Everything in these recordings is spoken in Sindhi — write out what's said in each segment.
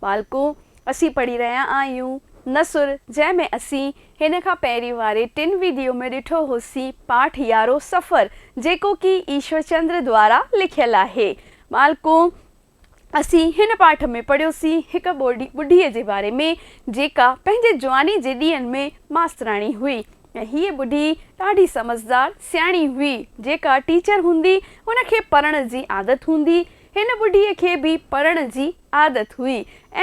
ٻالڪو، اسين پڙهي رهيا آهيون نثر جنهن ۾ اسين هن کان پهرين واري ٽن ويڊيو ۾ ڏٺو هوسين پاٺ يارهون سفر جيڪو ڪي ايشور چندر دوارا لکيل آهي. ٻالڪو، اسين هن پاٺ ۾ پڙهيوسين هڪ ٻڍي جي باري ۾ جيڪا پنهنجي جواني جي ڏينهن ۾ ماستراڻي هئي ۽ هيء ٻڍي ڏاڍي سمجهدار سياڻي هئي جيڪا ٽيچر هوندي هن کي پڙهڻ جي عادت هوندي هن ٻڍي کي به پڙهڻ جي عادت هئي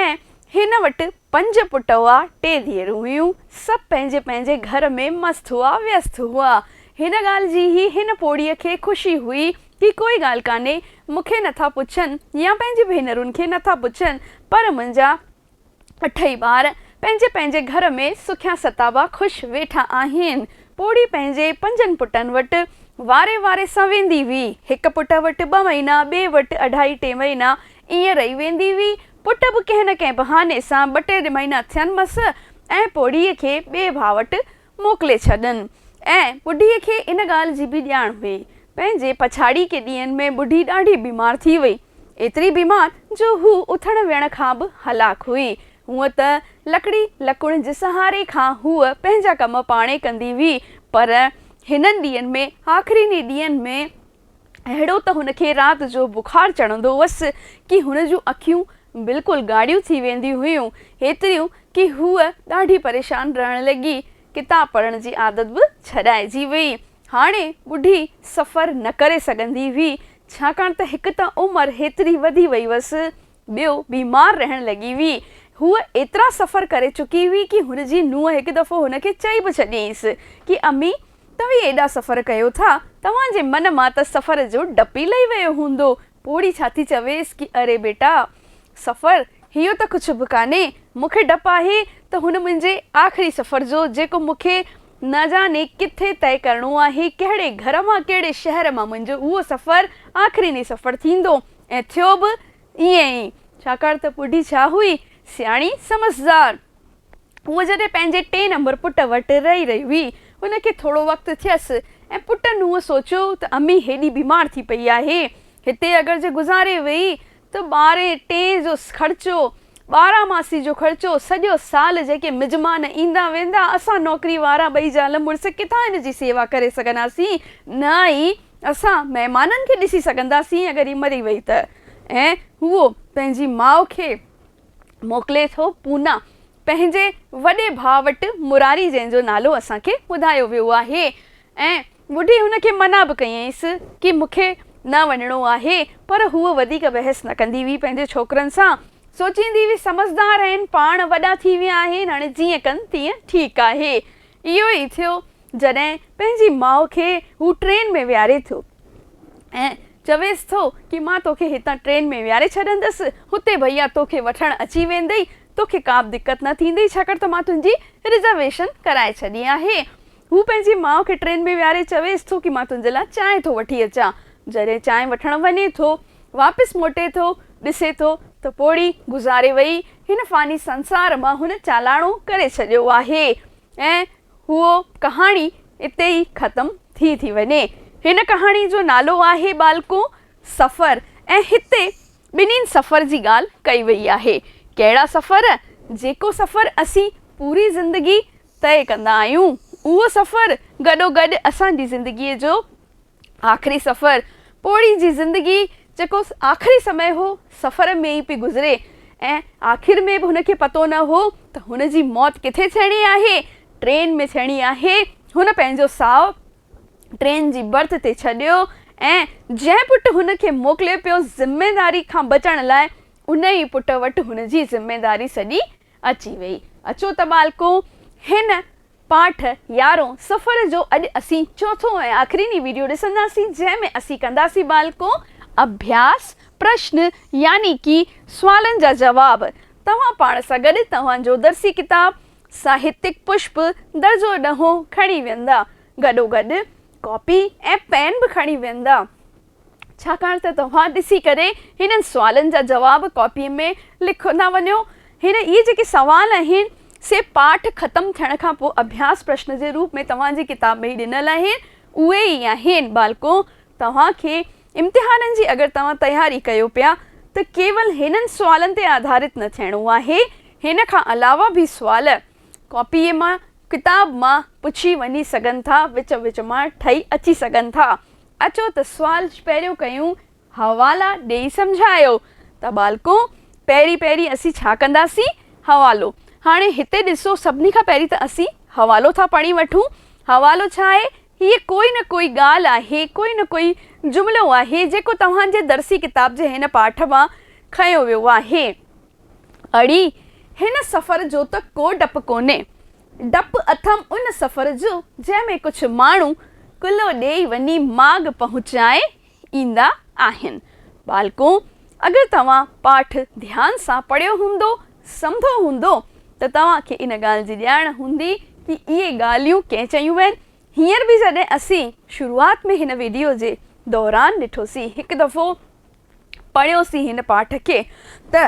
۽ هن وٽ پنج پٽ هئا، ٽي ڌيئرون هيون. سڀ پنهنجي پنهنجي گهر ۾ مست هئا، ويست هئا. هن ڳالهه جي هي هن پوڙهيء کي خوشي هئي ڪي ڪوئي ڳالهه ڪانهي، مون کي نه ٿا پڇن يا پنهنجي ڀينرن کي نه ٿا پڇن، پر منهنجا اٺئي ٻار پنهنجي پنهنجي گهر ۾ سکيا ستابا خوش ويٺا آهن. پوڙهي پنهنجي پنجن پٽن وٽ واري واري سان ويندي هئي. هڪ پٽ وٽ ٻه مهينا، ٻئي وٽ اڍائي ٽي مهينا ائين رهي ويندي هئي. پٽ به ڪنهن نه ڪنهن بهاني سان ٻه ٽي مهينا ٿين مس ۽ پوڙهيء کي ٻئي ڀاء وٽ موڪلي ڇڏن ۽ ٻڍيء کي ان ڳالهه جي به ڄاڻ هئي. پنهنجي پڇاڙيء ڪي ڏينهن ۾ ٻڍي ڏاڍي بيمار ٿي وئي. ايتري بيمار جو هوء اٿڻ ويهڻ کان به هلاڪ هئي. هونء ته لڪڙي لڪڻ جي سهاري کان هوء پنهنجا ڪم پاڻهي ڪندي هئي پر هنن ڏينهن ۾، آخرين ئي ڏينهن ۾، اهڙو ته هن کي رات جو بخار چڙهندو هوس ڪي هن جون اکيون بلڪل ڳاڙهيون ٿي وينديون هيون هيتريون ڪي هوء ڏاڍي پريشان رهڻ لڳي ڪتاب پڙهڻ جي عادت به ڇڏائجي وئي هاڻي ٻڍي سفر نه ڪري سگهندي هئي ڇاڪاڻ ته هڪ ته عمر هيتري وڌي وئي هوس ٻيو، بيمار رهڻ لڳي هئي. هوء ايترا سفر ڪري چڪي هئي ڪي هن جي نونهن هڪ دفعو هن کي چئي به ڇڏينس ڪي امي، توهين ايڏا سفر ڪيو ٿا، توهان جي من مان ته سفر جو ڊپ ئي لهي ويو هوندو. پوڙهي ڇا ٿي چويس ڪي اري بيٽا! سفر، اهو ته ڪجهه به ڪانهي. مون کي ڊپ آهي ته هن منهنجي آخري سفر جو، جيڪو مون کي نه جاني ڪٿي طئي ڪرڻو آهي، ڪهڙي گهر مان ڪهڙي شهر مان منهنجو اهو سفر آخريني سفر ٿيندو. ۽ ٿيو به ائين ئي، ڇاڪاڻ ته ٻڍي ڇا هئي، سياڻي سمجهدار. هوء جڏهن پنهنجي ٽئين نمبر پٽ وٽ رهي رهي هئي، هن کي ٿورو وقت ٿيس ۽ پٽ نونهن سوچيو ته امي هيڏي بيمار ٿي پئي آهي، هتي اگر جي گذاري ويئي ته ٻارهين ٽئين جو خرچو، ٻارا ماسي جو خرچو، سڄو سال جيڪي مجمان ايندا ويندا، اسان نوڪري وارا ٻئي زال مڙس ڪٿان هن جي سيوا ڪري سگهنداسين، نه ئي اسان مهمانن کي ڏسي سگهنداسين اگر هي مري وئي ته ۽ هو پنهنجي ماء کي موڪلي ٿو پونا پنهنجي وڏي ڀاء وٽ مراري جنهن جو نالو اسان کي ٻڌايو ويو آهي ۽ ٻڍي هن کي منع به ڪيائينس ڪي مون کي نه وڃڻو آهي پر هوء وڌيڪ بحث نه ڪندي هئي پنهنجي ڇوڪرن سان سوچيندي هئي سمجهدار آهن پاڻ وڏا ٿي ويا آهن هاڻي جيئن ڪن تيئن ٺيڪ آهي اهو ئي ٿيو جڏهن پنهنجي ماء کي هو ٽرين ۾ ويهاري ٿو ۽ چويس ٿو ڪي مان توکي هتان ٽرين ۾ ويهاري ڇڏندس، هتي ڀئيا توکي وٺڻ اچي ويندئي، توکي ڪابه دقت نه ٿيندئي ڇاڪاڻ ته مان تنهنجي رزرويشن ڪرائي ڇڏي آهي. هو پنهنجي ماء کي ٽرين ۾ ويهاري چويس ٿو ڪي مان تنهنجي لاء چانهه ٿو وٺي اچان. جڏهن چانهه وٺڻ وڃي ٿو، واپس موٽي ٿو، ڏسي ٿو ته پوڙهي گذاري وئي، هن فاني سنسار مان هن چالاڻو ڪري ڇڏيو آهي ۽ هوء ڪهاڻي اتي ئي ختم ٿي ٿي وڃي. هن ڪهاڻي جو نالو آهي ٻالڪو سفر ۽ هتي ٻنهين سفر جي ڳالهه ڪئي وئي آهي. ڪهڙا سفر؟ جيڪو سفر اسين پوري زندگي طئي ڪندا آهيون، اهو سفر گڏوگڏ اسان جي زندگيء جو آخري سفر، پوڙهي جي زندگي جيڪو آخري سمي هو، سفر ۾ ئي پئي گذري ۽ آخر ۾ به هن کي پتو نه هو ته هن جي موت ڪٿي ٿيڻي آهي، ٽرين ۾ ٿيڻي آهي، هن پنهنجو ساهه ٽرين جي برٿ تي ڇڏيو ۽ جنهن پٽ هن کي موڪلي پيو ذميواري کان بچڻ لاء، ان ئي پٽ وٽ هن جي ذميواري سڄي اچي ويئي. اچو ته ٻالڪون، هن پاٺ يارهون سفر جو اڄ اسين چوٿون ۽ آخريني ويڊيو ڏسنداسين، جنهن ۾ اسين ڪنداسين ٻالڪون اڀياس پرشن يعني ڪي سوالن جا جواب. توهان پاڻ سان گڏ توهان جو درسي ڪتاب ساهتيڪ پشپ درجو ڏهون کڻي ويندا. گڏوگڏ ڪاپي ۽ پين به کڻي ويندا. ڇاڪاڻ ته توهان ڏسي ڪري هنن سوالن جا جواب ڪاپيء ۾ لکندا وڃو. هينئر اهي جيڪي سوال آهن، سي پاٺ ختم ٿيڻ کان پوء اڀياس پرشن جي روپ ۾ توهان جي ڪتاب ۾ ئي ڏنل آهن. اهي ئي آهن. ٻالڪو، توهان کي امتحانن جي اگر توهان تياري ڪيو پيا ته ڪيول هنن سوالن تي آڌارت نه ٿيڻو آهي. هن کان علاوه به سوال ڪاپيء مان، ڪتاب مان، پڇي وڃي سگهن ٿا، وچ وچ مان ٺهي اچي سگهن ٿا. اچو ته سوال پهريون ڪيون، حوالا ڏيئي سمجهايو. ته ٻالڪو، پهرين پهرين اسين ڇا ڪنداسين؟ حوالو. هاڻي هتي ڏسو، سڀني کان پهرين ته اسين حوالو ٿا پڙهي وٺون. حوالو ڇا آهي؟ هيء ڪوئي نه ڪوئي ڳالهه آهي، ڪوئي نه ڪوئي جملو آهي، جيڪو توهان جي درسي ڪتاب جي هن پاٺ مان کنيو ويو آهي. اڙي هن سفر جو ته ڪو ڊپ ڪونهي. ڊپ اٿم ان سفر جو جنهن ۾ ڪجهه ماڻهو ڪلهو ڏيئي وڃي ماڳ پهچائي ايندا آهن. ٻالڪو اگر توهان پاٺ ڌيان سان پڙهيو هوندو، سمڌو هوندو ته توهان کي ان ڳالهه جي ڄاڻ هوندي ڪي اهي ڳالهيون ڪنهن چيون وين. هينئر به جڏهن اسين شروعات ۾ هن ويڊيو جي دوران ڏٺوسين هڪ دفعو. پڙهيوسين هن پاٺ کي ته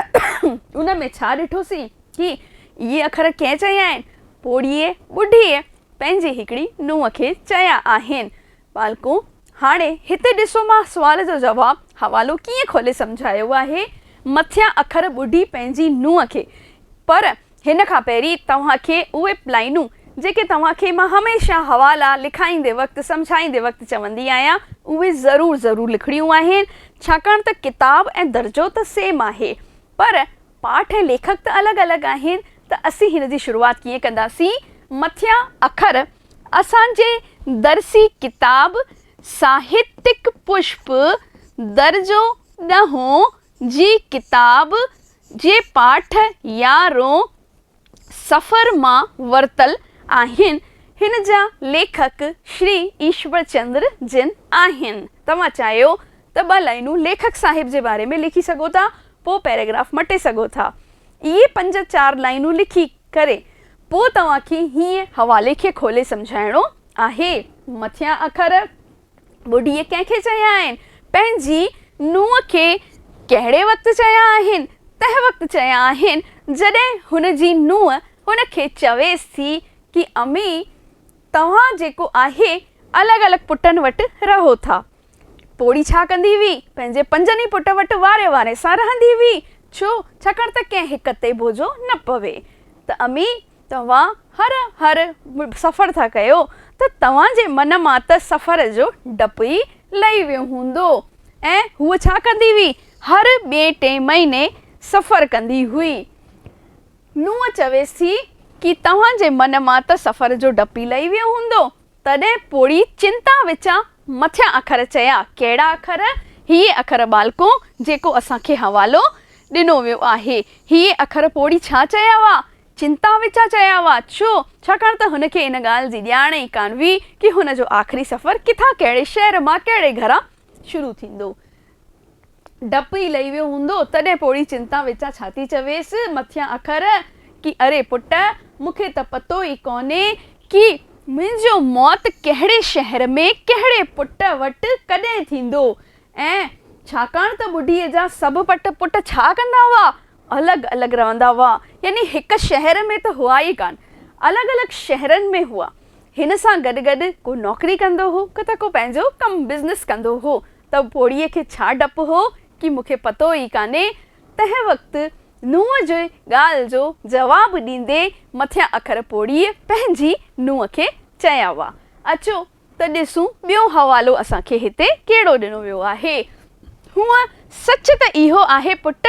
ان ۾ ڇا ڏٺوسين هي اهي اکر ڪنهن چيا آهن؟ پوڙهيء ٻڍيء پنهنجي هڪڙي نونهن کي چيا آهن. ٻالڪو هاڻي هتي ڏسو مان سوال جو جواب حوالو ڪيئن کولي سمجهايو آهي. مٿيان اکر ٻڍي پنهنجي نونهن کي پر هن کان پهرين توهان کي اهي پلائنون جيڪي توهان کي مان هميشه حوالا لکائيندي وقت سمجهائيندي وقت چوندي آهيان اهي ضرور ضرور لکڻيون آهن ڇاڪاڻ ته ڪتاب ۽ درجو ته سيم آهي پر پاٺ ۽ ليکڪ ته الڳ الڳ آهن ته اسين هن جي شروعات ڪيئن ڪنداسين مٿيان اکر اسان جي درسي ڪتاب ساهتڪ پشپ درجو ڏهون جي ڪتاب جي پاٺ يا رو سفر مان ورتل آهن. هن جا ليکڪ شري ايشور چندر جن آهن. توهان چاهيو ته ٻه لائينون ليکڪ صاحب جي باري ۾ لکي سگهو ٿا، پوء پيراگراف مٽي سگهو ٿا. اهي پنج چار لائينون لکي ڪري پوء توهان کي هيئن حوالي کي کولي سمجهائڻو آهي. مٿيان اکر ٻڍيء ڪنهن کي چيا آهن؟ پنهنجي نونهن کي ڪهڙي وقت چيا آهن؟ تنهن وقت چيا آهن، جڏهن هن جي نونهن هن کي چويس ٿي ڪي امي، توهان جيڪو آهي الڳ الڳ پٽن وٽ رهو ٿا. پوڙهي ڇا ڪندي هئي؟ پنهنجي پنجن ئي پٽ وٽ واري واري سان رهندي هئي. ڇو؟ ڇاڪاڻ ته ڪنهن هڪ تي بوجهو نه پوي. ته امي! توهان هر هر سفر ٿا ڪيو ته توهان جي من مان ته سفر جو ڊپ ئي لهي ويو هوندو ۽ هوء ڇا ڪندي هئي؟ هر ٻئي ٽئين مهيني سفر ڪندي هئي. نوح چويس ٿي ڪي توهان جي من مان ته سفر جو ڊپ ئي لهي ويو هوندو. تڏهن پوڙهي چنتا وچان مٿيان اکر چيا، ڪهڙا اکر؟ هيء اکر ٻالڪو جيڪو اسان کي حوالو ڏنو ويو آهي. هيء اکر پوڙهي ڇا چيا هئا؟ چنتا وچان چيا هئا، ڇو؟ ڇاڪاڻ ته هن کي ان ڳالهه جي ڄاڻ ئي ڪانه هئي ڪي هن جو آخري سفر ڪٿان ڪهڙي شهر مان ڪهڙي گهران شروع ٿيندو. ڊپ ئي لهي ويو هوندو تڏهن پوڙهي چنتا وچان ڇا ٿي چويس مٿيان اکر ڪي اري پٽ مون کي ته پتو ئي ڪونهي ڪي منهنجو موت ڪهڙي شهر ۾ ڪهڙي پٽ وٽ ڪڏهن ٿيندو ۽ ڇاڪاڻ ته ٻڍي جا سڀ پٽ پٽ ڇا ڪندا هئا الڳ الڳ رهندا هئا، يعني هڪ شهر ۾ ته هئا ئي ڪانه، الڳ الڳ شهرن ۾ هئا. هن سان گڏ گڏ ڪو نوڪري ڪندو هو ته ڪو پنهنجو ڪم بزنس ڪندو هو ته پوڙهيء کي ڇا ڊپ هو ڪي مون کي پتو ئي ڪانهي. تنهن وقت نونهن جي ڳالهه جو جواب ڏيندي مٿيان اکر پوڙهيء پنهنجي نونهن کي چيا هئا، اچو! ته ڏسون ٻيون حوالو اسان کي هتي ڪهڙو ڏنو ويو آهي. هونء سچ ته اهو آهي پٽ،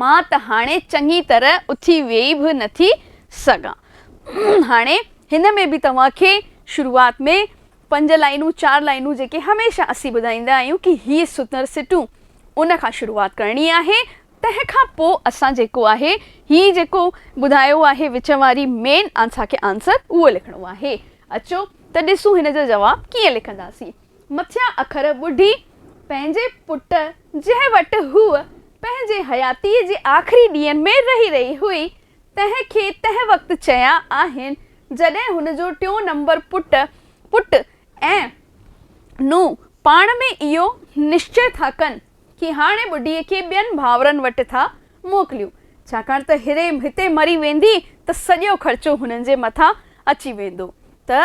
مان ته هاڻي چڱي طرح اٿي ويهي به نه ٿي سگهان. هاڻي هن ۾ به توهان کي شروعات ۾ پنج لائينون چار لائينون جيڪي هميشه اسين ٻڌائيندا آهيون ڪي هي سنر سٽون ان کان شروعات ڪرڻي آهي تنهن کان پوء اسان جيڪو آهي هي جيڪو ٻڌايو آهي وچ واري مين آنسا کي آنسر اهو لکڻو آهي. اچو ته ڏسون هن جو جواب ڪيئن لکنداسين. مٿيان اکر ٻڍي پنهنجي پٽ جنهن وٽ هوء پنهنجي حياتيء جي آخري ڏينهن ۾ رهي رهي هئي، تنهن کي تنهن وقت چيا آهن جڏهن هن جو ٽيون نمبر پٽ پٽ ۽ نونهن پاڻ ۾ اهو نشچي ٿا ڪن، ڪي هاڻي ٻڍيء کي ٻين ڀانورن وٽ ٿا موڪليون، ڇاڪاڻ ته هري هتي مري ويندي ته سڄو خرچو هنن جي مٿان اچي ويندو ته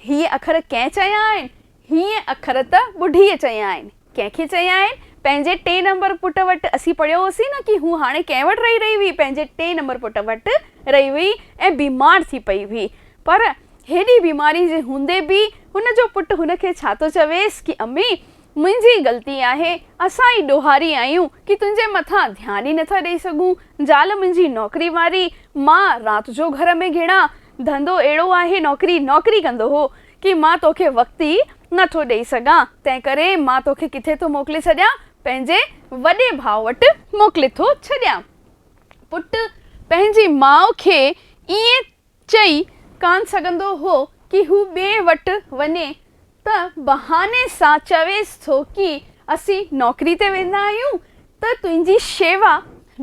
هيء اکر ڪنهن چيا آهن؟ هيء اکر ته ٻڍيء چيا آهن. ڪنهن کي چيا آهن؟ پنهنجي ٽئين نمبر پٽ وٽ اسين پڙهيو هوسين نه ڪي هوء هاڻي ڪنهن وٽ رهي رهي هئي، پنهنجي ٽئين نمبر پٽ وٽ رهي هئي ۽ بيمار ٿي پئي هئي. پر هيڏي بيماري جي هوندي به هن جو پٽ هن کي ڇا ٿو چويس ڪي امي! منهنجي غلطي آهي، اسان ئي ڏوهاري آهيون ڪي تنهنجي مٿان ڌيان ئي نٿا ڏئي سگهون، زال منهنجي نوڪري واري، مان رات جو گهر ۾ گهڙان، ڌنڌو اهڙو آهي نوڪري نوڪري ڪندو هو ڪي مان توکي وقت ئي نٿو ڏئي سگهان، تنهنڪري مان توکي ڪٿي ٿو موڪلي ڇڏيان، پنهنجي وڏي ڀاء وٽ. موڪلي ٿو ڇڏيان. پٽ پنهنجي ماء کي ائين چئي ڪانه سگهندو هو ڪي هو ٻئي وٽ وڃي ته بهاني سان چويس ٿو ڪي اسين نوڪري تي ويندا آهيون ته تنهنجي شيوا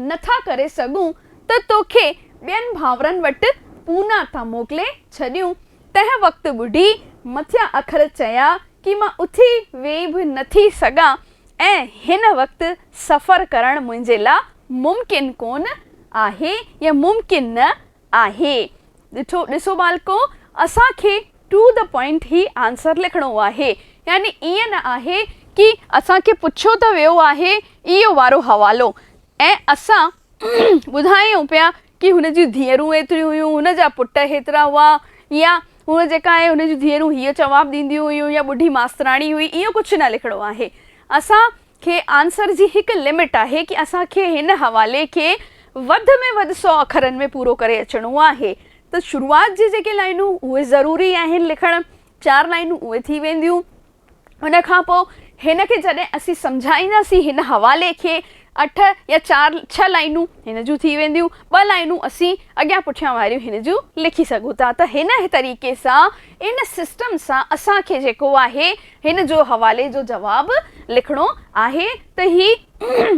نه ٿا ڪري سگهون ته توکي ٻين ڀانورن وٽ پونا تان موڪلي ڇڏيون تنهن وقت ٻڍي مٿيان اکر چيا ڪي مان اٿي ويهي به نه ٿي سگهان ۽ هن وقت سفر ڪرڻ منهنجي لا ممڪن ڪونه آهي يا ممڪن نه آهي. ڏٺو ڏسو ٻالڪو اسان کي ٽو دي پوائنٽ هي آنسر لکڻو آهي يعني ائين نه آهي ڪي اسان کي پڇيو ته ويو آهي اهو وارو حوالو ۽ اسان ٻڌايون پيا ڪي هن جون ڌيئرون ايتريون هيون هن جا پٽ هيترا هئا يا هونء جيڪا آهي هن جون ڌيئرون هيء جواب ڏينديون هيون يا ٻڍي ماستراڻي هئي اهو ڪجهه نه لکڻو آهي اسان کي آنسر جي هڪ لمٽ آهي ڪي اسان کي هن حوالي کي وڌ ۾ وڌ سؤ اکرن ۾ پورو ڪري اچڻو آهي ته شروعات جي جيڪي لائنون اهي ضروري آهن لکڻ چار لائنون اهي ٿي وينديون ان کان پوء هن کي جڏهن اسين سمجهائينداسين هن حوالي کي اٺ يا چار ڇهه لائنون هن جون ٿي وينديون ٻه لائنون اسين اڳيان پٺيان واريون هن جون لکي سگهون ٿا ته هن طريقي سان ان سسٽم سان اسان کي جيڪو آهي هن جو حوالي جو جواب لکڻو آهي ته هي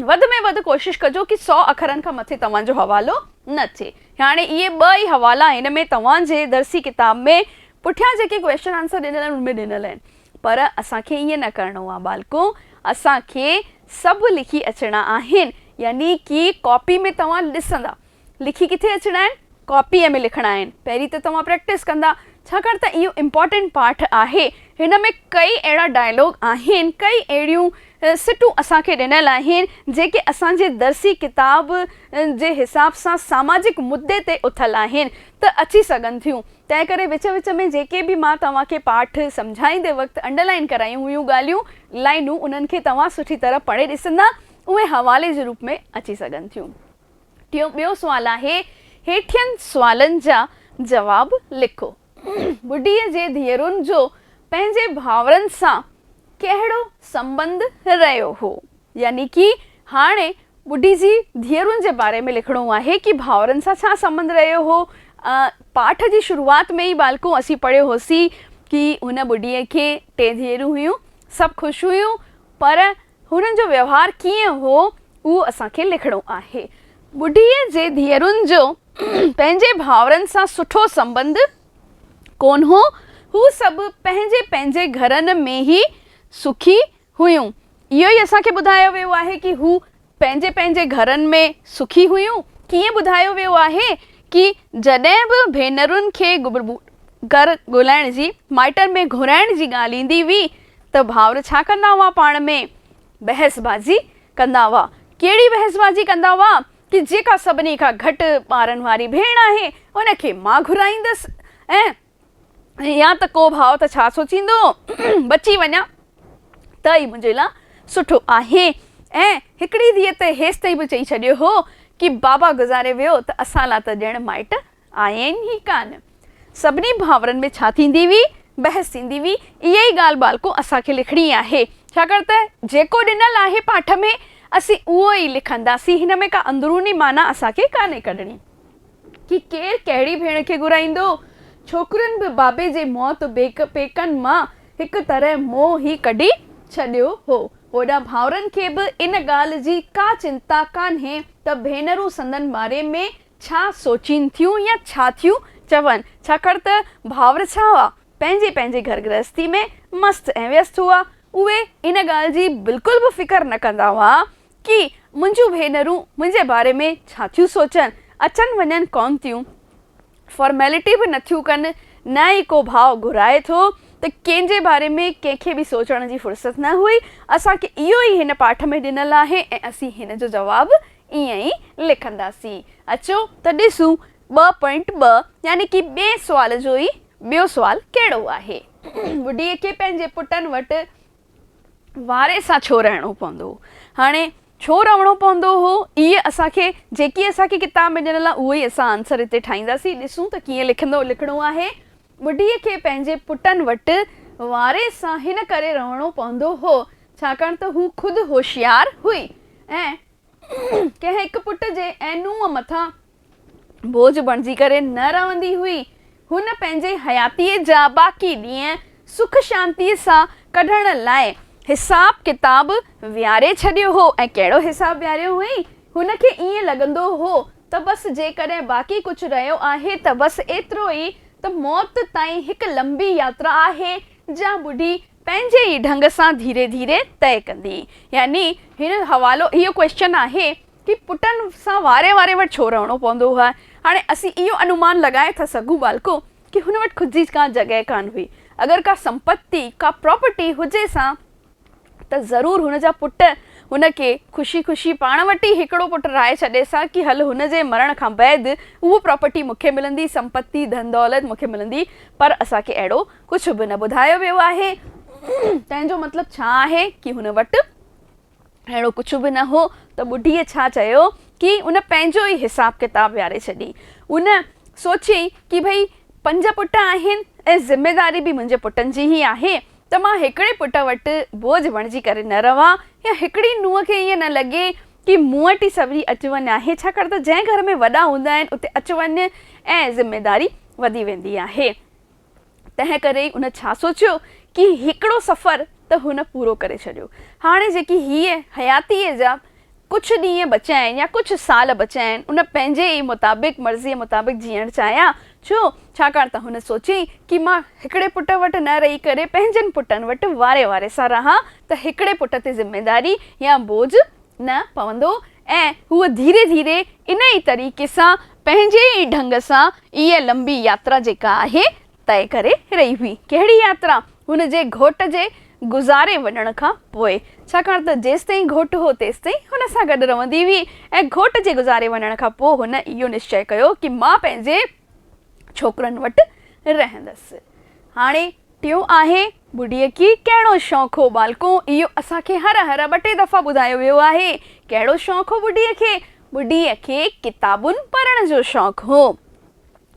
وڌ ۾ وڌ ڪوشش ڪجو ڪي سؤ اکرن کان مٿي توهان جو حوالو نه ٿئي. هاڻي اهي ٻه ئي حوالا هن ۾ توهان جي درسي ڪتاب ۾ پٺيان جيڪي ڪويشچن آنسر ڏنل آهن ان ۾ ڏنل آهن پر اسان کي ائين نه ڪرڻو آهي ٻالڪو اسان کي سڀ لکي اچڻا آهن يعني ڪي ڪاپي ۾ توهان ڏسندا لکي ڪٿي اچڻا آهن؟ ڪاپيء ۾ لکڻا آهن. پهرين ته توهان پريڪٽس ڪندا، ڇاڪاڻ ته اهو امپارٽنٽ پارٽ آهي. هن ۾ ڪيئي اهڙا ڊائلاگ آهن، ڪيئي اهڙيون سٽون اسان کي ڏنل آهن، جيڪي اسان جي درسي ڪتاب جي حساب سان ساماجڪ مدي تي اٿل آهن ته اچي سگهن ٿيون. تنهنڪري وچ وچ ۾ جيڪي به مان توهان کي پاٺ سمجهائيندي وقت انڊرلائين ڪرايون هيون ڳالهيون، لائنون، انهن کي توهان سٺي طرح پڙهي ڏسندا، اهي حوالي جي روپ ۾ اچي سگهن ٿيون. ٽيون ٻيو سوال آهي هيٺين سوالن جا جواب لکو. ٻڍيء جي ڌيئرن جو پنهنجي ڀائرن سان ڪهڙو سنٻنڌ رهيو هو؟ يعني ڪي هاڻي ٻڍي جي ڌيئرن جي باري ۾ لکڻو آهي ڪي ڀائرن سان ڇا سنٻنڌ رهيو هو. پاٺ جي شروعات ۾ ئي ٻالڪو اسين پڙهيو هوسين ڪي هن ٻڍيء کي ٽي ڌيئرون هيون سڀ خوش هيون پر هنن جو ويوهار ڪيئن هو، اهو اسان کي لکڻو آهي. ٻڍيء جي ڌيئرن جو پنهنجي ڀائرن سان سٺو سنٻنڌ ڪونه هو. هو سڀ پنهنجي پنهنجي گهرن ۾ ئي سکي هيون. اهو ئي اسان کي ٻڌايو ويو آهي ڪي هو پنهنجي پنهنجي گهرن ۾ سکي هيون. ڪيئن ٻڌايو ويو آهي ڪي جڏهن به ڀينرن کي گهر ڳولهائڻ جي، مائٽن ۾ گهرائڻ جي ڳالهه ايندي هئي ته ڀائر ڇا ڪندا هئا پاڻ ۾ بحث بازي ڪندا هئا. ڪهڙي بحث بازي ڪندا هئا ڪي جيڪا سڀني کان گهٽ ٻارن واري ڀيڻ آهي ان کي مان گهرائيندس ۽ يا ته ڪو ڀاء ته ڇا سوچيندو بچي وڃان ته ئي منهنجي لا سٺو آهي ۽ هڪڙي ڌيء ته هيستائين به چئي ڇڏيو هو ڪي بابا گذاري ويو ته اسان لا ته ڄڻ مائٽ آهن ئي ڪانه. سڀني ڀانورن ۾ ڇا ٿيندي هئي، بحث ٿيندي هئي، اها ئي ڳالهه ٻالڪو اسان کي لکڻي آهي، ڇاڪاڻ ته جيڪو ڏنل آهي پاٺ ۾ اسين اهو ئي لکنداسين، هن ۾ ڪا اندروني معنيٰ اسان کي ڪانهي ڪڍڻي. ڪي ڪير ڪهڙي ڀيڻ کي گهرائيندو؟ ڇوڪرين به بابي جي موت بيڪ پيڪن مان هڪ طرح منهن ئي ڪڍي ڇڏيو هو. هوڏانهن ڀانورن کي به ان ڳالهه جي ڪا چنتا ڪانهي ته ڀينرون سندن مارئي ۾ ڇا سوچين ٿيون يا ڇا ٿيون چون، ڇاڪاڻ ته ڀائر ڇا هئا، پنهنجي پنهنجي گهر گرهستي ۾ مست ۽ ويست هئا. اهي ان ڳالهه جي بلڪل به فڪر نه ڪندا هئا ڪي منهنجون ڀينرون منهنجي باري ۾ ڇا ٿيون سوچن، اچن وڃن ڪونه ٿيون، فارميلٽي به نه ٿيون ڪن، نه ئي ڪو ڀاء گهرائي ٿو ته ڪنهن جي باري ۾ ڪنهن کي به سوچڻ جي فرصت نه هئي. اسان کي اهو ئي هن پاٺ ۾ ڏنل آهي ۽ اسين هن جو جواب ائين ئي لکنداسين. اچو ته ڏسون ٻه پوائنٽ ٻه يعني ڪي ٻئي سوال جو ئي ٻيو سوال ڪهڙو آهي. ٻڍيء کي پنهنجي پٽن وٽ واري سان ڇو رهڻو پوندو هو؟ هاڻي ڇو رهڻو پوندو هو؟ اهي اسان کي جيڪي اسان کي ڪتاب ۾ ڏنل آهي اهو ئي اسان آنسر هتي ٺاهينداسين. ڏسون ته ڪيئن لکندو لکڻو آهي. ٻڍيء کي پنهنجي پٽن وٽ واري سان هن ڪري رئڻو پوندو هو، ڇاڪاڻ ته هو خود هوشيار هئي ۽ ڪنهن هڪ پٽ جي ۽ نونهن مٿان بوجهه بڻجي ڪري نه رئندي هئي. هن پنهنجي حياتيء جا باقي ڏينهن سک شانتيء سان ڪڍڻ لاء حساب ڪتاب ويهاري ڇڏيو هو ۽ ڪهڙو حساب ويهاريو هئائين؟ هن کي ائين لڳندو هو ته بس جيڪڏهن باقي ڪجهه رهيو آهي ته بس ايترو ئي ته موت تائين هڪ لنبي ياترا آهي جا ٻڍي پنهنجي ئي ڍنگ سان ڌيري ڌيري طئي ڪندي. يعني هن حوالو اهو ڪوئسچن آهي ڪي پٽن سان واري واري وٽ ڇو رهڻو پوندو هئا؟ هاڻي اسين اهو انومان لڳائي ٿا سگهون ٻالڪو ڪي هن وٽ خود جي ڪا جڳهه ڪانه هئي اگر ڪا سمپتي ڪا پراپرٽي هجي سا ته ضرور هن جا پٽ هن کي خوشي خوشي پاڻ وٽ ئي هڪڙو پٽ رائي ڇڏيس ها ڪي هل هن جي مرڻ کان بعد اهو پراپرٽي مون کي ملندي، سمپتي، ڌن دولت مون کي ملندي پر اسان کي اهڙو ڪجهه به نه ٻڌايو ويو آهي. تنهن جو مطلب ڇا آهي ڪي هن وٽ اهڙو ڪجهه به نه هو ته ٻڍيء ڇا چيو ڪي ان پنهنجو ئي حساب ڪتاب ويهاري ڇڏي. ان سوچيئي ڪي ڀئي پنج پٽ آهن ۽ ذميداري به منهنجي پٽن جي ئي آهي ته مان هڪڙي پٽ وٽ بوجهه بڻجي ڪري نه رهان يا هڪڙي نونهن کي ائين نه لڳي ڪي مون وٽ ئي سويري اچ وڃ آهي ڇاڪاڻ ته جنهن گهر ۾ وڏا هوندا آهن اتي اچ وڃ ۽ ذميداري وڌي ويندي آهي تنهن ڪري ئي ان ڇا سوچيو ڪي هڪڙو سفر ته هن پورو ڪري ڇڏيو هاڻي جيڪي هيء حياتيء جا ڪجهه ڏينهن بچيا آهن يا ڪجهه سال بچيا آهن، هن پنهنجي ئي مطابق، مرضيء مطابق جيئڻ چاهيان. ڇو؟ ڇاڪاڻ ته هن سوچي ڪي مان هڪڙي پٽ وٽ نه رهي ڪري پنهنجن پٽن وٽ واري واري سان رهان ته هڪڙي پٽ تي ذميداري يا بوجهه نه پوندو ۽ هوء ڌيري ڌيري انهيء طريقي سان پنهنجي ئي ڍنگ سان اهي لنبي ياترا جيڪا آهي طئي ڪري رهي هئي. ڪهڙي ياترا؟ هن جي گهوٽ جي گذاري وڃڻ کان پوء. ڇاڪاڻ ته جيستائين گهوٽ هو تيستائين هن سان گڏ رهندي هئي ۽ گهوٽ جي گذاري وڃڻ کان پوء هن اهو نشچئه ڪيو ڪي مان پنهنجي ڇوڪرن وٽ رهندس. هاڻي ٽيون آهي ٻڍيء کي ڪهڙو شوق هو ٻالڪو؟ اهو اسان کي هر هر ٻه ٽي دفعا ٻڌايو ويو آهي. ڪهڙو شوق هو ٻڍيء کي؟ ٻڍيء کي ڪتابون پڙهڻ جو شوق هو.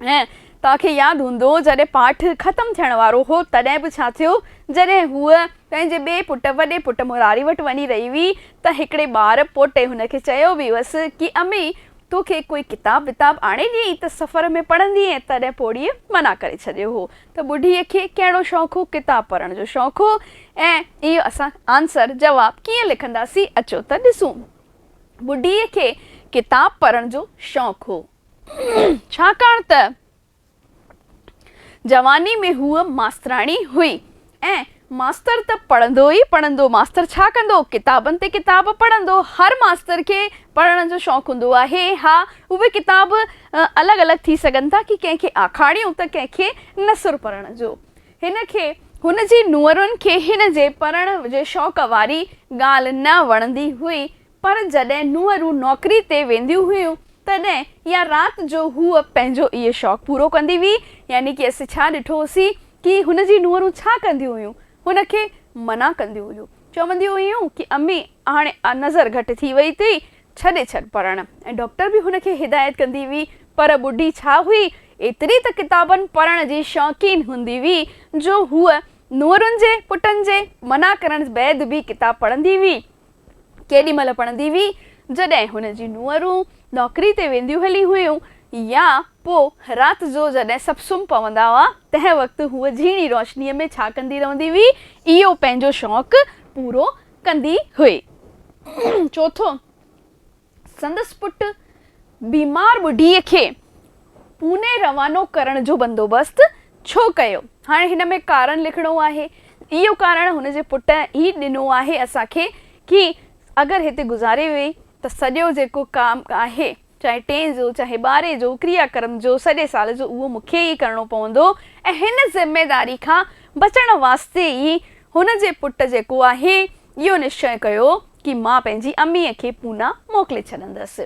۽ توهان کي ياد هوندو جڏهن پاٺ ختم ٿيڻ وارو هو تڏهن به ڇا ٿيو جڏهن هوء پنهنجي ٻئي پٽ وڏي پٽ مراري وٽ وڃي رهي هئي ته هڪڙي ٻار پوٽي هن کي چيو به هئس ڪي امي تو کي ڪوئي ڪتاب وتاب آڻي ڏيئي ته سفر ۾ پڙهندينء تڏهن پوڙهيء منع ڪري ڇڏيو هو ته ٻڍيء کي ڪهڙو شوق هو ڪتاب پڙهڻ جو شوق هو ۽ اهو اسان آنسر جواب ڪيئن لکنداسين اچو ته ڏسون ٻڍيء کي ڪتاب پڙهڻ جو شوق هو. ڇاڪاڻ ته جواني ۾ هوء ماستراڻي هئي ۽ ماستر ته پڙهندو ئي پڙهندو، ماستر ڇا ڪندو؟ ڪتابن تي ڪتاب پڙهندو، هر ماستر کي پڙهڻ جو شوق هوندو آهي، ها اهي ڪتاب الڳ الڳ ٿي سگهن ٿا ڪي ڪنهن کي آکاڻيون ته ڪنهن کي نثر پڙهڻ جو. هن کي هن جي نونهرن کي هن جي پڙهڻ جي شوق واري ڳالهه نه وڻندي هئي پر جڏهن نونهرون نوڪري تي وينديون هيون تڏهن يا رات جو هوء پنهنجو اهي شوق پورو ڪندي هئي يعني ڪي اسين ڇا ڏٺو هوسين ڪي هن جي نونهرون ڇا ڪنديون هيون هن کي منع ڪنديون هيون چونديون هيون ڪي امي هاڻي نظر گهٽ ٿي وئي اٿئي ڇڏي ڇڏ پڙهڻ ۽ ڊاڪٽر به هن کي هدايت ڪندي هئي پر ٻڍي ڇا هئي ايتري ته ڪتابن پڙهڻ جي شوقين هوندي هئي جو هوء نونهرن جي پٽن جي منع ڪرڻ بعد به ڪتاب پڙهندي هئي ڪيڏي مهل پڙهندي هئي، جڏهن هن جي نونهرون نوڪري تي وينديون هلي هيون يا پوء رات جو جڏهن سڀ سمهه پوندا هئا، تنهن وقت هوء جهيڻي روشنيء ۾ ڇا ڪندي رهندي هئي، اهو پنهنجو شوق پورو ڪندي هئي. چوٿون. سندس پٽ بيمار ٻڍي کي پوني روانو ڪرڻ جو بندوبست ڇو ڪيو؟ هاڻي هن ۾ ڪارڻ لکڻو آهي. اهو ڪارڻ هن جي پٽ ئي ڏنو آهي اسان کي ڪي اگر هتي گذاري وئي ته سڄو جيڪو ڪام آهي چاهي ٽئين جو چاهي ٻارهين جو ڪريا ڪرم جو سڄي سال جو اهو مون کي ئي ڪرڻو پوندو ۽ هن ذميداري کان بچڻ واسطي ئي هن جي پٽ جيڪو آهي اهو نشچئه ڪيو ڪي مان پنهنجي اميء کي پونا موڪلي ڇڏندس.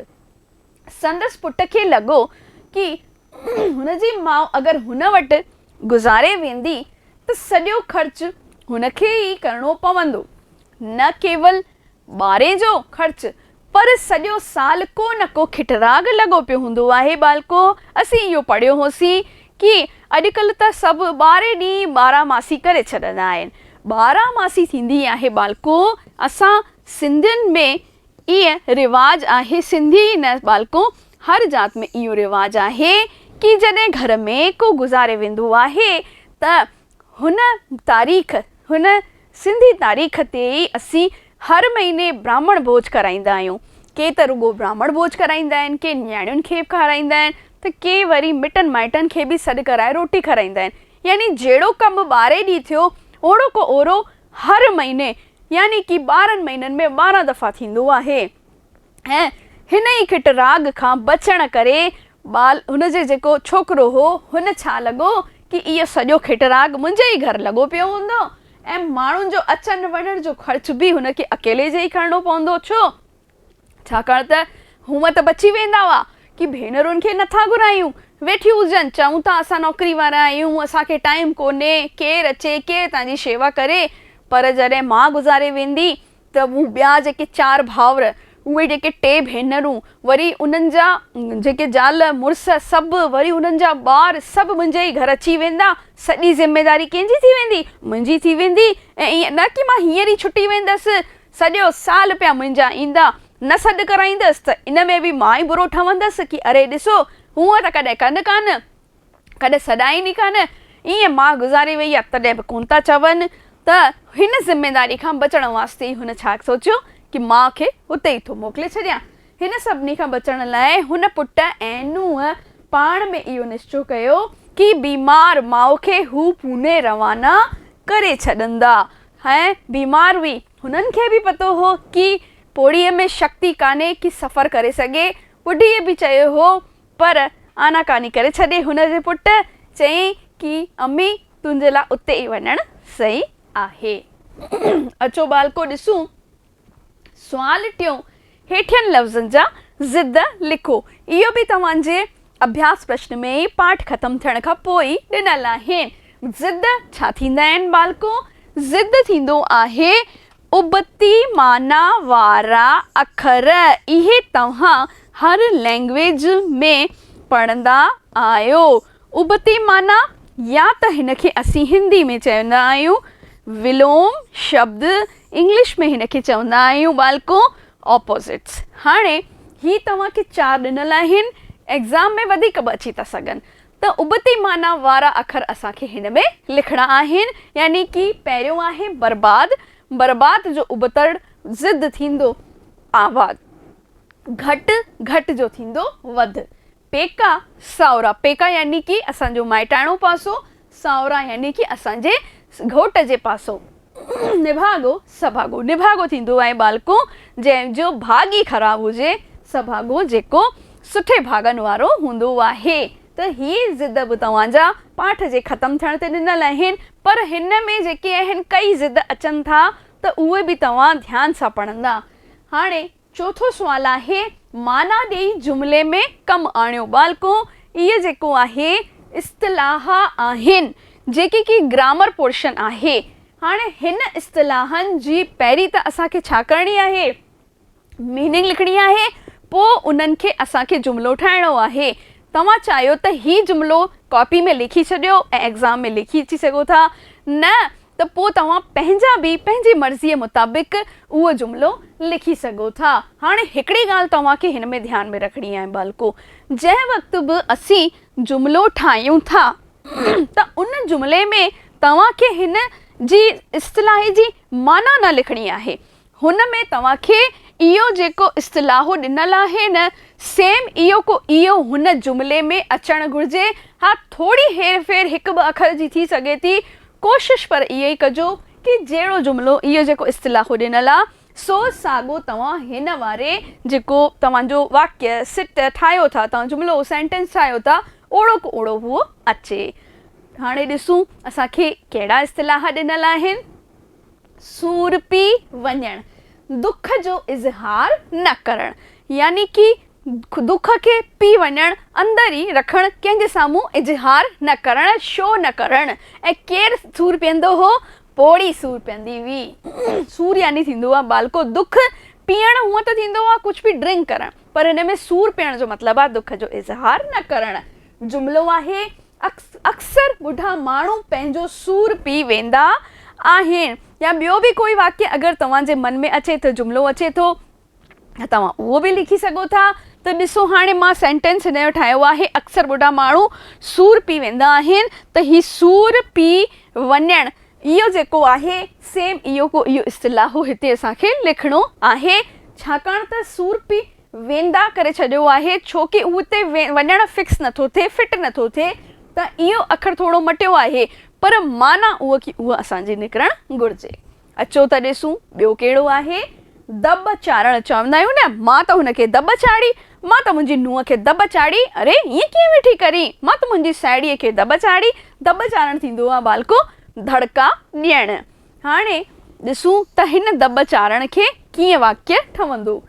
سندس پٽ کي لڳو ڪي هن جي ماء اگر هن وٽ گذاري ويندي ته سڄو خرچ هن کي ئي ڪرڻو پوندو. نه ڪيول ٻاري جو خرچ پر سڄو سال ڪو نه ڪو کٽراڳ لڳو پيو هوندو آهي ٻالڪو! اسين اهو پڙهيو هوسين ڪي اڄڪلهه ته سڀ ٻارهين ڏينهن ٻارهن ماسي ڪري ڇڏندا آهن. ٻارهن ماسي ٿيندي آهي ٻالڪو. اسان سنڌين ۾ ايئن رواج آهي سنڌي ئي نه ٻالڪو هر ذات ۾ اهو رواج آهي ڪي جڏهن گهر ۾ ڪو گذاري ويندو آهي ته هن تاريخ هن سنڌي تاريخ تي ئي اسين هر مهيني براهمڻ ڀوڄ ڪرائيندا آهيون. ڪي ته رڳو براهمڻ ڀوڄ ڪرائيندا آهن، ڪي نياڻين کي کارائيندا آهن ته ڪي وري مٽن مائٽن کي به سڏ ڪرائي روٽي کارائيندا آهن. يعني جهڙو ڪنڀ ٻارهي ڏينهن ٿيو اوڙوڪو اورو هر مهيني يعني ڪي ٻارهن مهينن ۾ ٻارهن دفعا ٿيندو آهي. ۽ هن ئي کٽ راڳ کان بچڻ ڪري ٻال هن جي جيڪو ڇوڪرو هو هن ڇا لڳو ڪي اهو سڄو کٽ راڳ منهنجي ئي گهر لڳو پيو هوندو ۽ ماڻهن جو اچڻ وڃڻ جو خرچ به هن کي اڪيلي جي ئي کرڻو پوندو ڇو ڇاڪاڻ ته هونء ته بچي ويندا هئا ڪي ڀينرن کي نه ٿا گهرايون ويٺيون هجن چئون ٿا اسان نوڪري وارا آهيون اسان کي ٽائيم ڪونهي ڪير اچي ڪير تنهنجي شيوا ڪري پر جڏهن ماء گذاري ويندي ته مون ٻيا جيڪي چار ڀائر، اهي جيڪي ٽي ڀينرون، وري انهن جا جيڪي زال مڙس سڀ، وري انهن جا ٻار سڀ منهنجي ئي گهر اچي ويندا. سڄي ذميداري ڪنهن جي ٿي ويندي؟ منهنجي ٿي ويندي. ۽ ائين نه ڪي مان هينئر ئي ڇٽي ويندس. سڄو سال پيا منهنجا ايندا. نه سڏ ڪرائيندس ته ان ۾ به مان ئي برو ٺهندس ڪي اري ڏسو، هونئن ته ڪڏهن ڪن ڪانه. ڪڏهن سڏائين ئي ڪانه، ائين ماء گذاري وئي آ، تڏهن به ڪونه ٿا چون ته هن ذميداري کان بچڻ واسطي ئي هن ڇا سوچيو ڪي ماء کي هتي ئي ٿو موڪلي ڇڏيان. هن سڀني کان بچڻ لاء هن پٽ ۽ نونهن پاڻ ۾ اهو نشچو ڪيو ڪي بيمار ماء کي هو پوني روانا ڪري ڇڏندا. هيء بيمار هئي، هنن کي به پتو هو ڪي پوڙهيء ۾ شڪتي ڪانهي ڪي سفر ڪري سگهي، ٻڍيء به چيو هو پر آناڪاني ڪري ڇڏي هن جي پٽ چيائين ڪي امي تنهنجي لاء اتي ئي وڃڻ صحيح آهي. اچو ٻالڪو ڏسون سوال ٽيون هيٺين لفظن جا ضد لکو. اهو به توهان جي اڀياس پرشن ۾ ئي پاٺ ختم ٿيڻ کان پوء ئي ڏنل آهن. ضد ڇا ٿيندا آهن ٻالڪو؟ ضد ٿيندو آهي ابتي معنيٰ وارا اکر اهي توهان هر لئنگئيج ۾ پڙهندا آهيو. ابتي معنيٰ يا ته هن کي اسين هندي ۾ چوندا آهيون ولوم شبد انگلش ۾ هن کي چوندا آهيون ٻالڪو Opposites. هاڻي هي توهان کي چار ڏنل آهن ايگزام ۾ وڌيڪ به اچي ٿا سگهن. ته ابتي معنيٰ وارا اکر اسان کي هن ۾ لکڻا آهن، يعني ڪي پهريون آهي برباد، برباد جو ابتڙ ضد ٿيندو آباد، گهٽ، گهٽ جو ٿيندو وڌ، پيڪا، ساهورا، پيڪا يعني ڪي اسان جو مائٽاڻو پاسو، ساهورا يعني ڪي اسان جي گهوٽ جي پاسو، نڀاڳو سڀاڳو نڀاڳو ٿيندو ۽ ٻالڪو جنهن جو ڀاڳ ئي خراب هجي سڀاڳو جيڪو سٺي ڀاڳن وارو هوندو آهي ته هي ضد به توهان جا پاٺ جي ختم ٿيڻ تي ڏنل آهن پر هن ۾ جيڪي اهن ڪئي ضد اچن ٿا ته اهي به توهان ڌيان سان پڙهندا هاڻي چوٿون سوال آهي، معنيٰ ڏيئي جملي ۾ ڪم آڻيو. ٻالڪو، اهي جيڪو آهي اصطلاح آهن، جيڪي ڪي گرامر پورشن آهي. هاڻ هن اصطلاحن جي پهرين ته اسان کي ڇا ڪرڻي آهي؟ ميننگ لکڻي آهي، پوء انهن کي اسان کي جملو ٺاهڻو آهي. توهان چاهيو ته هي جملو ڪاپي ۾ لکي ڇڏيو ۽ ايگزام ۾ لکي اچي سگهو ٿا. نه، ته پوء توهان پنهنجا به پنهنجي مرضيء مطابق اهو جملو لکي سگهو ٿا. هاڻي هڪڙي ڳالهه توهان کي هن ۾ ڌيان ۾ رکڻي آهي ٻالڪو، جنهن وقت به اسين جملو ٺاهيون ٿا ته ان جملي ۾ توهان کي هن جي اصطلاح جي معنيٰ نه لکڻي آهي، هن ۾ توهان کي اهو جيڪو اصطلاحون ڏنل آهن، سيم اهو ڪو اهو هن جملي ۾ اچڻ گهرجي. ها ٿوري هير ڦير هڪ ٻه اکر جي ٿي سگهي ٿي. ڪوشش پر اها ئي ڪجو ڪي جهڙو جملو اهو جيڪو اصطلاحون ڏنل آ، سو ساڳو توهان هن واري جيڪو توهان جو واڪيه، سٽ، ٺاهيو ٿا، توهان جملو، سينٽنس، ٺاهيو ٿا، اوڙو ڪو اوڙو اهو اچي. هاڻي ڏسون اسان کي ڪهڙا اصطلاح ڏنل آهن. سور پي وڃڻ، دک جو اظهار نه ڪرڻ، يعني ڪي دک کي پي وڃڻ، اندر ئي رکڻ، ڪنهن جي سامهون اظهار نه ڪرڻ، شو نه ڪرڻ. ۽ ڪير سور پيئندو هو؟ پوڙهي سور پيئندي هئي. سور يعني ٿيندو آهي ٻالڪو دک. پيئڻ هونئن ته ٿيندو آهي ڪجهه به ڊرنڪ ڪرڻ پر هن ۾ سور پيئڻ جو مطلب آهي دک جو اظهار نه ڪرڻ. جملو آهي اڪثر ٻڍا ماڻهو پنهنجو سور پي ويندا آهن. يا ٻيو به ڪوئي واقعي اگر توهان جي من ۾ اچي ته جملو اچي ٿو ته توهان اهو به لکي سگهو ٿا ته ڏسو هاڻي مان سينٽينس هن جو ٺاهيو آهي اڪثر ٻڍا ماڻهو سور پي ويندا آهن ته هي سور پي وڃڻ اهو جيڪو آهي سيم اهو اهو اصطلاح هتي اسان کي لکڻو آهي ڇاڪاڻ ته سور پي ويندا ڪري ڇڏيو آهي ڇو ڪي هو اتي وڃڻ فڪس نٿو ٿئي فٽ نٿو ٿئي ته اهو اکر ٿورو مٽيو آهي پر معنيٰ اهو ڪي اهو اسان جي نڪرڻ گهرجي اچو ته ڏسون ٻيو ڪهڙو آهي دٻ چاڙهڻ چوندا آهيون نه مان ته هن کي دٻ چاڙهي مان ته منهنجي نونهن کي دٻ چاڙهي اري ائين ڪيئن ويٺي ڪرين مان ته منهنجي ساهيڙيء کي دٻ چاڙهي دٻ چاڙهڻ ٿيندو آهي ٻالڪو دڙڪا ڏيڻ هاڻي ڏسون ته هن دٻ چاڙهڻ کي ڪيئن واڪيه ٺهندو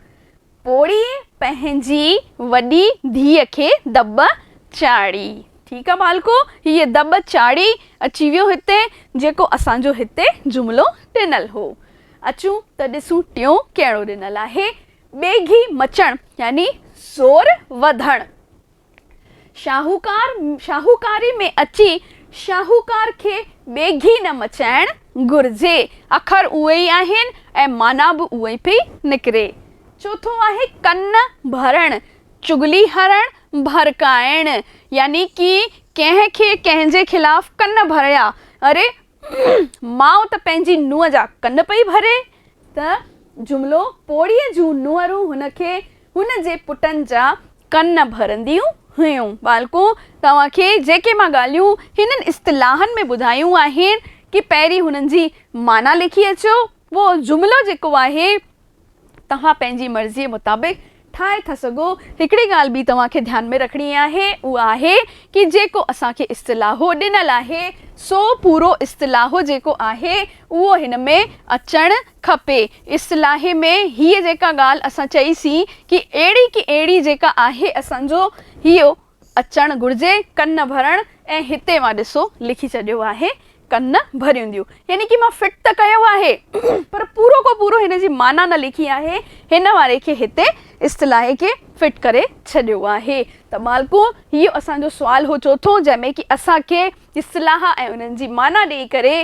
پوڙهي پنهنجي وڏي ڌيء کي دٻ چاڙهي. ٺيڪ آ ٻالڪو، هيء دٻ چاڙهي اچي ويو هتي، جيڪو اسان جو هتي جملو ڏنل هو. اچون ته ڏسون ٽيون ڪهڙو ڏنل آهي. ٻيگهي مچڻ يعني زور وڌڻ. شاهوڪار شاهوڪاري ۾ اچي شاهوڪار کي ٻيگهي نه مچائڻ گهرجي. اکر اهي ئي آهن ۽ معنيٰ به اها ئي پئي نڪري. چوٿون آهي ڪن ڀرڻ، چغلي هڻڻ، ڀرڪائڻ يعني ڪي ڪنهن کي ڪنهن جي خلاف ڪن ڀريا، اري ماء ته پنهنجي نونهن جا ڪن پئي ڀري ته جملو پوڙهيء جون نونهرون هن کي هن جي پٽن جا ڪن ڀرنديون هيون. ٻالڪون! توهان کي جيڪي مان ڳالهيون هنن اصطلاحن ۾ ٻڌايون آهن ڪي پهرين هنن جي معنيٰ لکي اچو. اهو جملو جيڪو آهي توهان پنهنجي مرضيء مطابق ٺاهي ٿا سگهو. هڪڙي ڳالهه ٻي توهان کي ڌيان ۾ رکڻي آهي، اها آهي ڪي جيڪو اسان کي اصطلاحو ڏنل آهي، سو پورو اصطلاحو جيڪو آهي، اهو هن ۾ اچڻ کپي. اصطلاحي ۾ هيء جيڪا ڳالهه اسان چئي سين ڪي اهڙي ڪي اهڙي جيڪا آهي اسان جو هيء اچڻ گهرجي ڪن ڀرڻ ۽ هتي اوهان ڏسو لکي ڇڏيو آهي ڪن ڀريونديون يعني ڪي مان فٽ ته ڪيو آهي پر پورو ڪو پورو هن جي معنيٰ نه لکي آهي هن واري کي هتي اصطلاح کي فٽ ڪري ڇڏيو آهي ته مالڪو هي اسان جو سوال هو چوٿون جنهن ۾ ڪي اسان کي اصطلاح ۽ انهن جي معنيٰ ڏئي ڪري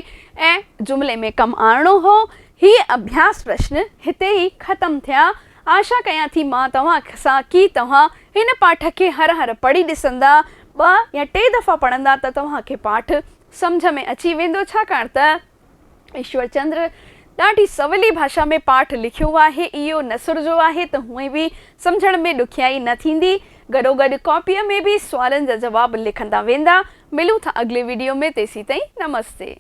۽ جملي ۾ ڪم آڻڻو هو هي اڀياس پرشن هتي ئي ختم ٿيا آشا ڪيان ٿي مان توهان سان ڪي توهان هن پاٺ کي هر هر پڙهي ڏسندا، ٻه يا ٽي دفعا پڙهندا ته توهان کي پاٺ سمجهه ۾ اچي ويندو ڇاڪاڻ ته ايشور چندر ڏاڍي سولي ڀاشا ۾ پاٺ لکيو آهي اهو نثر جو آهي ته هونئن به سمجهڻ ۾ ڏکيائي نه ٿيندي گڏوگڏ ڪاپيء ۾ به سوالن جا جواب لکندا ويندا ملون ٿا اڳلي وڊيو ۾ تيسين تائين نمستي.